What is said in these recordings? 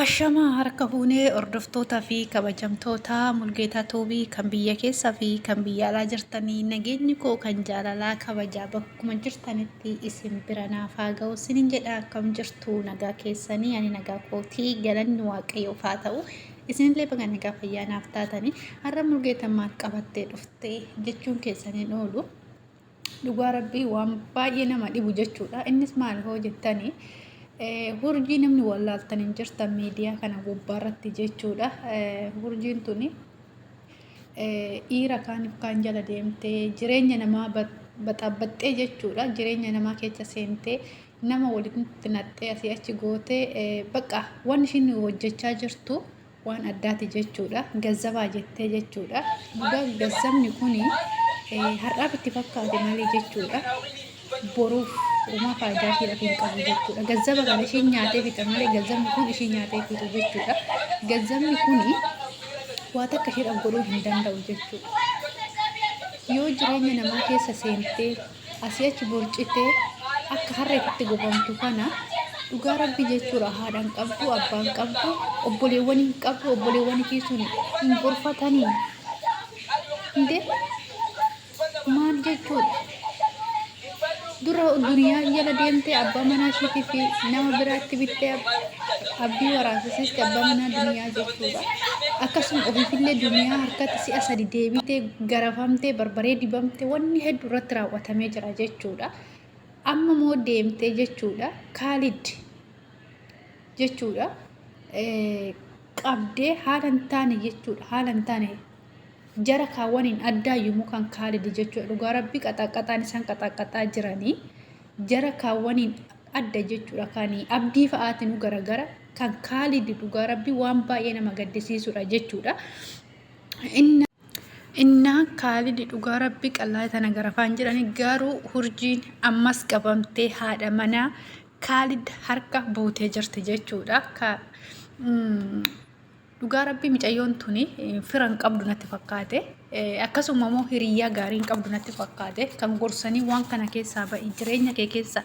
Ashama harka fuunee hordoftoota fi kabajamtoota mulgeetaa tuubii kan biyya keessaa fi kan biyya alaa jirtanii nageenyi koo kan jaalalaa kabajaa bakkuma jirtanitti isin bira naaf haa ga'u sinin jedha akkam jirtu nagaa keessanii ani nagaa kootii galanni waaqayyoof haa ta'u Isinillee baga nagaa fayyaa naaf taatanii har'a mulgeeta maal qabattee dhufte jechuun keessan hin oolu. Dhugaa rabbii waan baay'ee nama dhibu jechuudha. Innis maal hoo jettanii hurjii namni wallaaltan hin jirtan miidiyaa kana gubbaarratti jechuudha. Hurjiin tuni dhiira kaaniif kaan jala deemtee jireenya namaa baxaabbaxxee jechuudha. Jireenya namaa keessa seentee nama walitti naqxee asii achi gootee bakka waan ishiin hojjechaa jirtu waan addaati jechuudha. Gazzabaa jettee jechuudha. Dhugaa gazzabni kun har'aaf itti fakkaate malee jechuudha. Boruuf uumaa faayidaa fi rafiin qabu jechuudha. Gazzaba kana ishiin nyaatee fixa malee gazzabni kun ishiin nyaatee fixu jechuudha. Gazzabni kun waa takka ishiidhaaf godhuu hin danda'u jechuudha. Yoo jireenya namaa keessa seentee asii achi borcitee akka harreetitti gobamtu kana dhugaa rabbi jechuudha haadhaan qabdu abbaan qabdu obboleewwan hin qabdu obboleewwan ishii sun hin gorfatanii inde maal jechuudha dura duniyaa jala deemtee abbaa manaa ishiitii fi nama biraatti bittee abdii waraasisiisti abbaa manaa duniyaa jechuudha akkasuma ofiifillee duniyaa harkatti si'a sadi deebitee garafamtee, barbaree dibamte, wanni heddu irratti raawwatamee jira jechuudha. Amma moo deemtee jechuudha. Kaalid jechuudha. Qabdee haala hin taane jechuudha. Haala hin taane jara kaawwaniin addaa yommuu kan kaalid jechuudha. Dhugaa rabbi qaxaaqaxaan isaan qaxaaqaxaa jiranii jara kaawwaniin adda jechuudha. Kan abdii fa'aatiin garagara kan kaalid dhugaa rabbi waan baay'ee nama gaddisiisudha jechuudha. Inni Innaa kaalidi dhugaa rabbi qallaa tana garafaan jedhani garuu hurjiin ammas qabamtee haadha manaa kaalid harka buutee jirti jechuudha. Ka, mm, dhugaa rabbi micayyoon tuni eh, fira hin qabdu natti fakkaate Eh, akkasuma immoo hiriyyaa gaarii hin qabdu natti fakkaate kan gorsanii waan kana keessaa ba'i jireenya kee keessa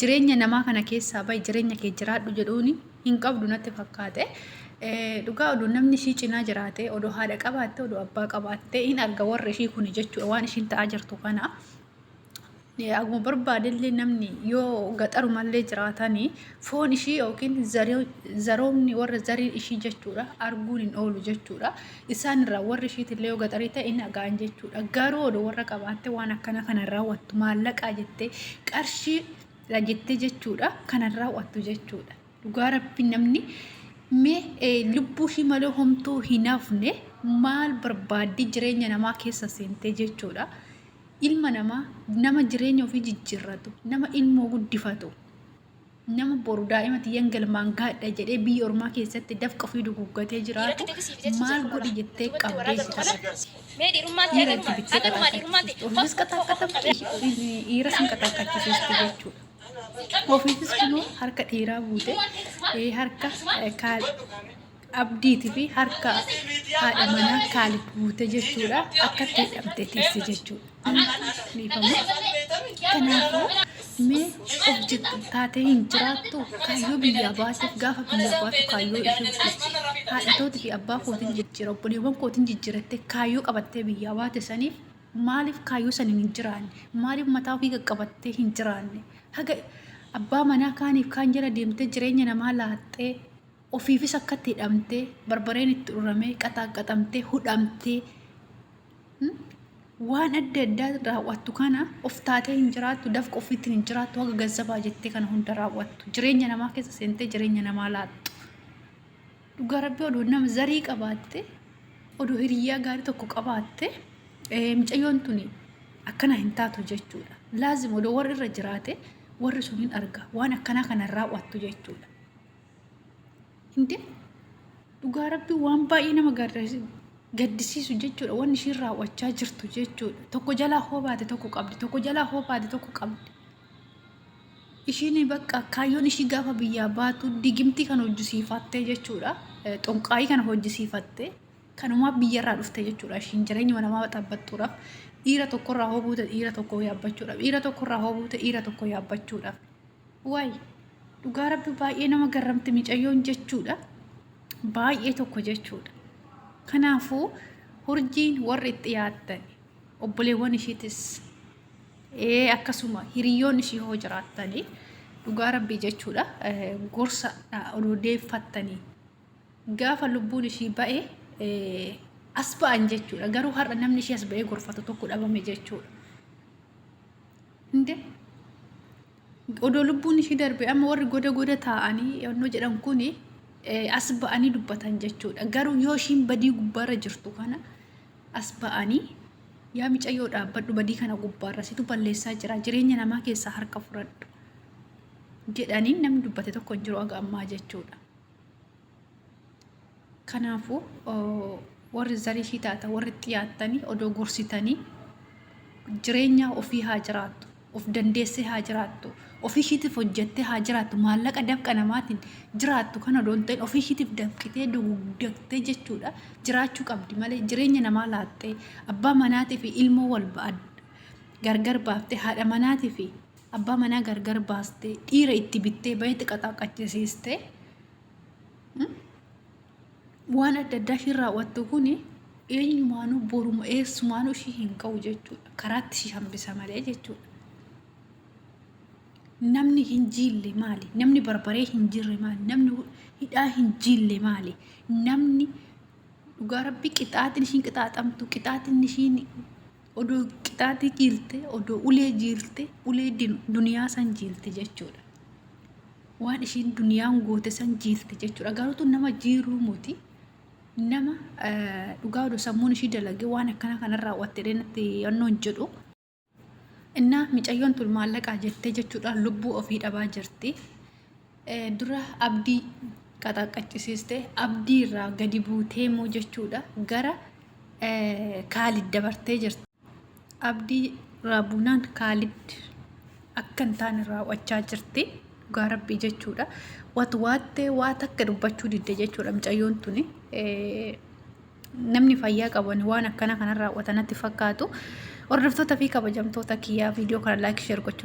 jireenya namaa kana keessaa ba'i jireenya kee jiraadhu jedhuuni hin qabdu natti fakkaate. Dhugaa odoo namni ishii cinaa jiraate, odoo haadha qabaatte, odoo abbaa qabaatte hin arga warri ishii kuni jechuudha waan ishiin ta'aa jirtu kana. Akkuma barbaadellee namni yoo gaxarumallee jiraatanii foon ishii yookiin zaroomni warra zarii ishii jechuudha arguun hin oolu jechuudha. Isaan irraa warri ishiitillee yoo gaxarii ta'e hin dhagaan jechuudha. Garuu odoo warra qabaatte waan akkana kana raawwattu maallaqaa jettee qarshii dha jettee jechuudha kanan raawwattu jechuudha dhugaa rabbi namni mee eh, lubbuu ishii malee homtuu hin hafne maal barbaaddii jireenya namaa keessa seentee jechuudha ilma namaa nama jireenya ofii jijjiirratu nama ilmoo guddifatu nama boru daa'ima tiyyan galmaan gaadha jedhee biyya ormaa keessatti dafqa ofii duguuggatee jiraatu maal godhi jettee qabdee si taphatti. Mee dhiirummaan kee Dhiira itti agaruma bittee agaruma dhiirummaan qaxaqqachiistu. Ofiifis qaxaqqaxachiisu. Dhiiras hin qaxaqqachiistu jechuudha. Ofiifis kunoo harka dhiiraa buute eh, harka eh, kaal abdiitii fi harka haadha manaa kaalid buute jechuudha. Akkatti hidhamte teesse jechuudha. Kanaafuu mee of jettu taatee hin jiraattu kaayyoo biyyaa baaseef gaafa biyyaa baatu kaayyoo ishee ibsiti. Haadha tootii fi abbaa kootiin jijjiira obboleewwan kootiin jijjiirattee kaayyoo qabattee biyyaa baate saniif maaliif kaayyoo saniin hin jiraanne maaliif mataa ofii qaqqabattee hin jiraanne haga abbaa manaa kaaniif kaan jala deemtee jireenya namaa laaxxee ofiifis akkatti hidhamtee barbareen itti uramee qaxaaqqaxamtee hudhamtee waan adda addaa raawwattu kana of taatee hin jiraattu daf qofiitti hin jiraattu haga gazzabaa jettee kana hunda raawwattu jireenya namaa keessa seentee jireenya namaa laattu dhugaa rabbi odoo nama zarii qabaatte odoo hiriyyaa gaarii tokko qabaatte eh, mucayyoon tuni akkana hin taatu jechuudha laazim odoo warri irra jiraate warri sun hin arga waan akkanaa kana hin raawwattu jechuudha Hindi dhugaa rabbii waan baay'ee nama gaddisiisu jechuudha. Wanni ishiin raawwachaa jirtu jechuudha. Tokko jalaa hoo baate tokko qabdi. Tokko jalaa hoo baate tokko qabdi. Ishiin bakka kaayyoon ishii gaafa biyyaa baatu digimtii kan hojjisiifattee jechuudha. Xonqaayii kana hojjisiifattee kanumaa biyyarraa dhufte jechuudha. Ishiin jireenyuma namaa xabbattuudhaaf dhiira tokkorraa hoo buute dhiira tokko yaabbachuudhaaf dhiira tokkorraa hoo buute dhiira tokko yaabbachuudhaaf. Waay dhugaa rabbi baay'ee nama garramte micayyoon jechuudha. Baay'ee tokko jechuudha. Kanaafuu hurjiin warri itti yaaddan obboleewwan ishiitis ee akkasuma hiriyoon ishii hoo jiraattanii dhugaa rabbii jechuudha gorsa odeeffattanii gaafa lubbuun ishii ba'e as ba'an jechuudha garuu har'a namni ishii as ba'ee gorfatu tokko dhabame jechuudha. Inde Odoo lubbuun ishii darbe amma warri goda goda taa'anii yannoo jedhan kun as ba'anii dubbatan jechuudha. Garuu yoo ishiin badii gubbaarra jirtu kana as ba'anii yaa micayyoo dhaabbadhu badii kana gubbaarra situ balleessaa jira jireenya namaa keessaa harka furadhu jedhanii namni dubbate tokko hin jiru aga ammaa jechuudha. Kanaafuu warri zariifii taata warri itti yaattanii odoo gorsitanii jireenya ofii haa jiraattu of dandeessee haa jiraattu ofii ishiitiif hojjettee haa jiraattu maallaqa dafqa namaatiin jiraattu kan odoo hin ta'in ofii ishiitiif dafqitee dugugdattee jechuudha jiraachuu qabdi malee jireenya namaa laattee abbaa manaatii fi ilmoo wal ba'ad gargar baaftee haadha manaatii fi Abbaa manaa gargar baastee, dhiira itti bittee, bayetti qaxaaqachisiistee, waan adda addaa ishii raawwattu kun eenyumaanuu boruma eessumaanuu ishii hin ka'u jechuudha. Karaatti ishii hambisa malee jechuudha. Namni hin jiille maali? Namni barbaree hin jirre maali? Namni hidhaa hin jiille maali? Namni dhugaa rabbi qixaaxin ishiin qixaaxamtu qixaaxin ishiin odoo qixaaxii jiilte odoo ulee jiilte ulee din- duniyaa san jiilte jechuudha waan ishiin duniyaan goote san jiilte jechuudha garuutu nama jiiruu moti nama eh, dhugaa odoo sammuun ishii dalage waan akkana kana raawwatte dheenatti yannoon jedhu innaa micayyoon tun maallaqaa jettee jechuudhaan lubbuu ofii dhabaa jirti dura abdii qaxaqqachisiiste abdii irraa gadi buutee moo jechuudha gara kaalid dabartee jirti abdii irraa buunaan kaalid akka hin taane raawwachaa jirti dhugaa rabbii jechuudha wat waattee waa takka dubbachuu didde jechuudha mucayyoon tuni namni fayyaa qaban waan akkana kanarraa watanatti fakkaatu hordoftoota fi kabajamtoota kiyyaa viidiyoo kana laayik sheer gochuun